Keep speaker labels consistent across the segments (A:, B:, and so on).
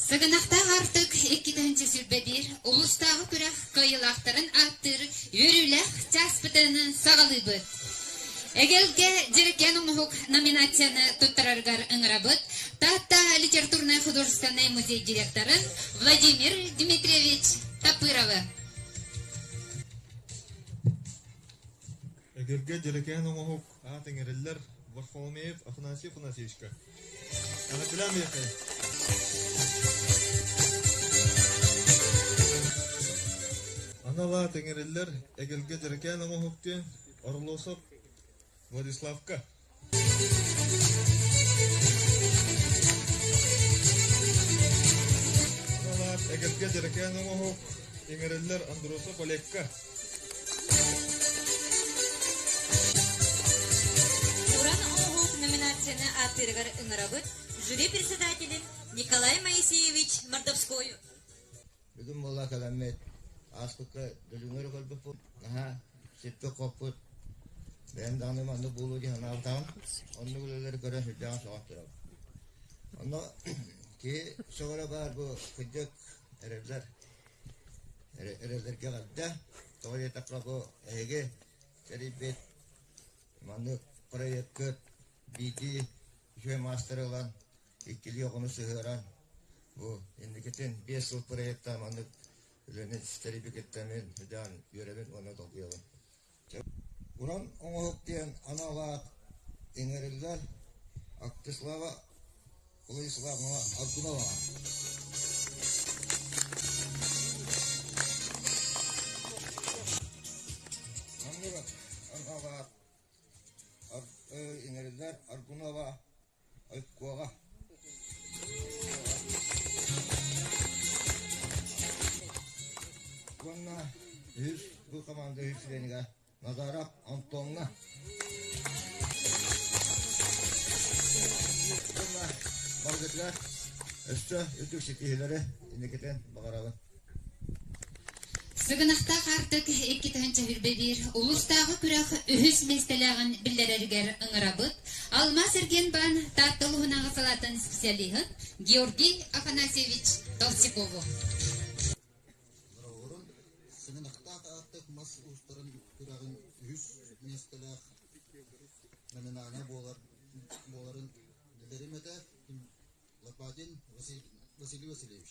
A: Сыгынахтаах аартык иккитинчи силбэбиир улуустааҕы күрэх кыайыылаахтарын ааттыыр үөрүүлээх чаас пытыынын саҕалыыбыт. Эгэлгэ Дьэрикээн оҥоһук номинацияны туттараргар ыҥырабыт Таатта литературнай-художественнай музей директоры Владимир Дмитриевич Тапыровы. Эгэлгэ Дьэрикээн оҥоһук аат иҥэриллэр Варфоломеев Афанасий Афанасьевичка эҕэтилээн бэйэхэй анал аат иҥэриллэр эгэлгэ дьэрэкээн оҥоһуктуя Орлосов Владиславка анал аат эгэлгэ дьэрэкээн оҥоһук иҥэриллэр Андросов Олегка номинацияны ааттыырыгар ыҥырабыт жюри председателин Николай Моисеевич Мордовской бүгүн буола каламмыт ааспыкка дөлүңөр көрбүппут наһаа сиппи хоппут бэйэм даҕаны манны буолуу дии санаабытаҕын оннук үлэлэри көрөн сирдээҕин соҕан турабын онно киһи сөҕөрө баар бу кырдьык эрэллэр эрэллэргэ тоҕо диэтэххинэ бу эһиги тэрийбит манны проеккыт биитии үчүгэй маастары ылан иккилии оҕону сыһыаран бу инникитин биэс сыл проекта маннык үлэни тэрийбикиттэн мин үдэҕин үөрэбин уонна долгуйабын Уран оҥоһук диэн аналаах иҥэриллэр Актыслава Владиславовна Аргунова Маннык аналаах иҥэриллэр Аргунова уонна үһүс бу хамаанда үһүс сирэнигэ Назара Антоновна уонна барытыгар өссө үрдүк ситиһиилэри инникитин баҕарабын Сыгынахтаах Аартык иккитэһин чэһирбэбиир улуустааҕы күрэх үһүс миэстэлээҕин биллэрэригэр ыҥырабыт Алмаас-Эргиэнбаан Таатта улууһунааҕы салаатын специалиһын Георгий Афанасьевич Толстякову Бороҕорун Сыгынахтаах Аартык мас уустарын күрэҕин үһүс миэстэлээх номинанта буолар буоларын билэрим этэ Лопатин Василий Васильевич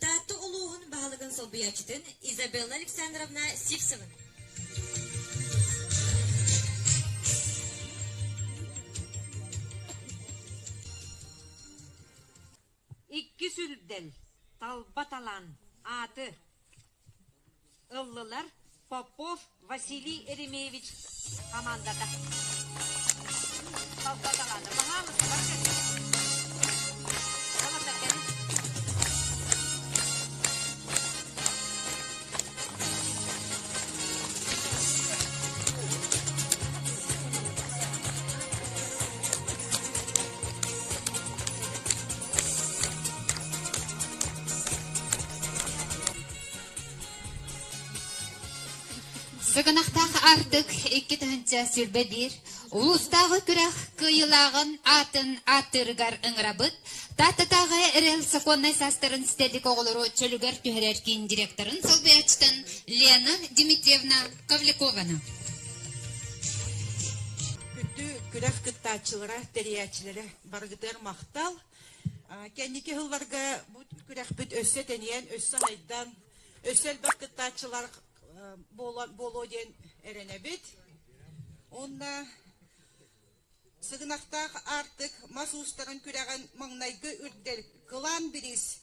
A: Таатта улууһун баһылыгын солбуйааччытын Изабелла Александровна Сивцева. Иккис үрдэл, талба талан, ааты. ыллылар Попов Василий Еремеевич хамаандата. Халта талаана. Баһаамысылар Сыгынахтаах ардык икки тыһыынча сүүрбэ биир улуустааҕы күрэх кыайыылааҕын аатын ааттыырыгар ыҥырабыт Тааттатааҕы эрэл сокуоннай саастарын ситэлик оҕолору чөлүгэр түһэрэр киин директорын солбуйааччытын Лена Дмитриевна Ковлякова. Күттүү күрэх кыттааччылара, тэрийээччилэрэ барыгытыгар махтал! Кэнники сылларга бу күрэхпит өссө тэнийэн, өссө сайдан, өссө элбэх кыттааччылар буолуо диэн эрэнэбит. Онно сыгынахтаах аартык мас уустарын күрэҕин маҥнайгы үрдэр кылаан бириис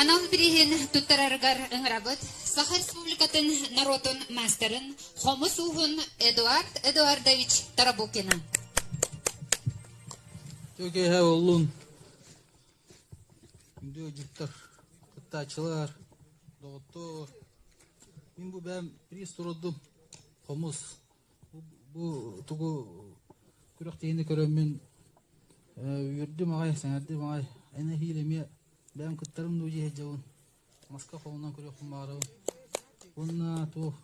A: Анал бирииһин туттарарыгар ыҥырабыт Саха Республикатын норуотун маастарын хомус ууһун Эдуард Эдуардович Тарабукина. Чөкеһэ оллун үндүөдьүктар кыттааччылар доҕоттор мин бу бэм приз турдум хомус Бу тугу күрэхтэһиини көрөммүн үөрдүм аҕай, сэҥээрдим аҕай. Эн эһиил эмиэ бэйэм кыттарым дуу дии сылдьабын. Маска холонон көрүөхпүн баҕарабын. Уонна туох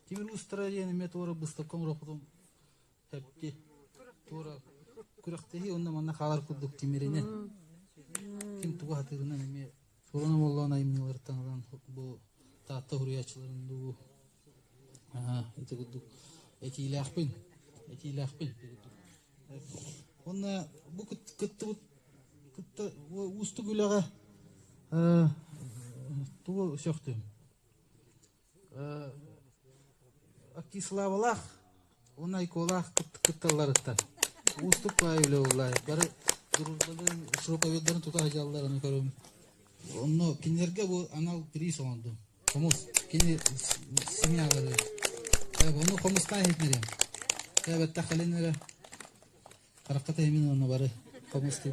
A: тимир быыстара диэн эмиэ туора быыстапка оҥоруохпутун сөпкө. Туора күрэхтэһии уонна манна хаалар курдук тимиринэн, ким тугу сатыырынан эмиэ Суолан омоллоон айымньыларыттан ылан бу Таатта уһуруйааччыларын дуу ити курдук этиилээхпин этиилээхпин ити курдук уонна бу кыттыбыт кытта уустук үлэҕэ тугу сөхтүм Киславалаах уонна айколаах кытталларыттан уустук кылаай үлэ буллаай бары дружбаларын проповеддарын тута сылдьалларын көрөм. Онно кинилэргэ бу анал приз оҥордум. Хомус кини семьялары. Ону хомустаан иһитнэрим. Бэттэх кэлинэрэ. Хараххата имин онно бары хомус дии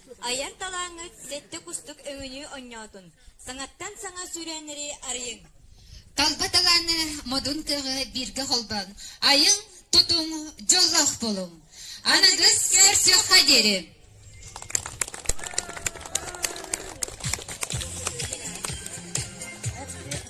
A: Айар талааҥҥыт сэттэ кустук өҥүнүү онньоотун. Саҥаттан саҥа сүүрээннэри арыйыҥ. Талба талааны модун кыаҕы бииргэ холбоон, айыҥ, тутуҥ, дьоллоох буолуҥ. Аныгыс көрсүөххэ диэри.